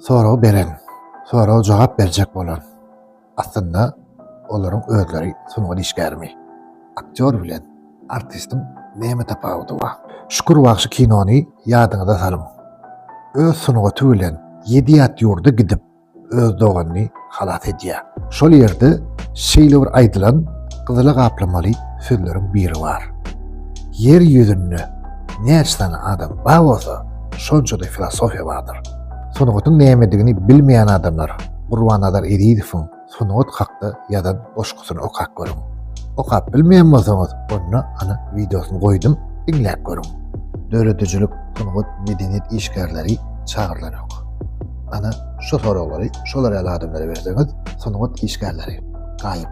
Soragy beren, soraga jogap berjek bolan, aslynda, olaryň özleri sungat işgärimi? Aktýor bilen artistiň näme tapawudy bar? Şükür bagşy kinony ýadyňyza salyň. Öz sungaty bilen ýedi ýat ýurda gidip öz doganyny halas edýär. Şol ýerde şeýle bir aýdylan gyzyla gaplamaly sözleriň biri bar. Ýer ýüzünde näçe sany adam bar bolsa, şonça-da filosofiýa bardyr. Sungatyň nämedigini bilmeýän adamlar Gurbannazar Ezizowyň sungat hakda ýazan goşgusyny okap görüň. Okap bilmeýän bolsaňyz, onda ana wideosyny goýdum, diňläp görüň. Döredijilik, sungat, medeniýet işgärleri çagyrylanok. Ana Şu soraglary şolar ýaly adamlara berseňiz, sungat işgärleri gaýyp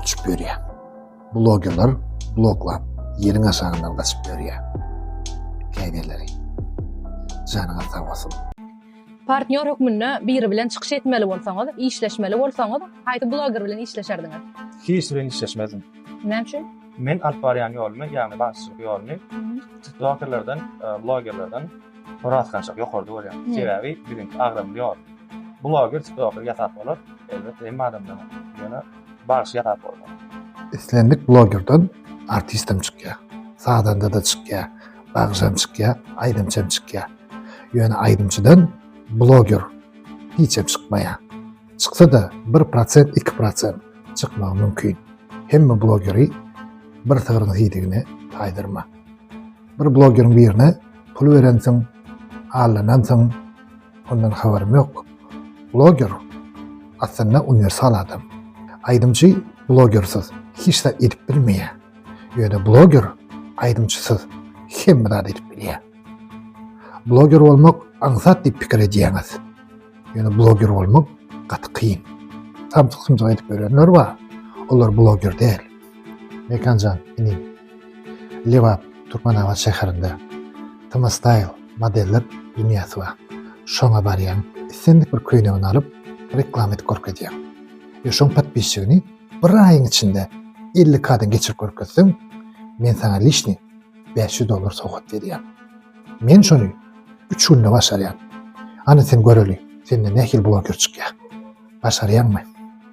uçup ýörýär. Blogerler bloklap ýeriň aşagyndan gaçyp ýörýär. Käbirleri. Janyňyz sag bolsun. Partnýor hökmünde biri bilen çykyş etmeli bolsaňyz, işleşmeli bolsaňyz, haýsy bloger bilen işleşerdiňiz? Hiç bilen işleşmezdim. Näme üçin? Men alyp barýan ýolumy, ýagny bagşyçylyk ýolumy, tiktokerlerden, blogerlerden, Horasgançak ýokarda bolýar. Sebäbi biziň agramly ýol. Bloger tiktoker ýasap bolar. Elbetde hemme adamdan. Ýöne bagşy ýasap bolmaz. Islendik blogerden artistem çykýar. Sazandada çykýar. Bagşam çykýar. Aýdymçam çykýar. Ýöne aýdymçydan bloger hiçem çykmaýar. Çyksada bir prosent iki prosent çykmagy mümkin. Hemme blogeri bir sygryň hidigine taýdyrma. Bir blogeriň birine pul berensiň, aldanansyň, ondan habarym ýok. Bloger aslynda uniwersal adam. Aýdymçy blogersiz hiç zat edip bilmeýär. Ýöne bloger aýdymçysyz hemme zat edip bilýär. Bloger bolmak aňsat diýip pikir edýäňiz. Ýöne bloger bolmak gaty kyn. Samsyk-sumsyk edip ýörenler bar. Olar bloger däl. Mekanjan inim Lebap Türkmenabat şäherinde Tmastyle modeller dünýäsi bar. Şoňa barýaň, islendik bir köýnegini alyp, reklama edip görkezýäň. Ýa şoň podpisçigini bir aýyň içinde elli kadan geçirip görkezseň, men saňa lişni bäş ýüz dollar sowgat berýän. Men şony üç günde başarýan. Hany sen göreli, senden nähili bloger çykýar. Başarýaňmy?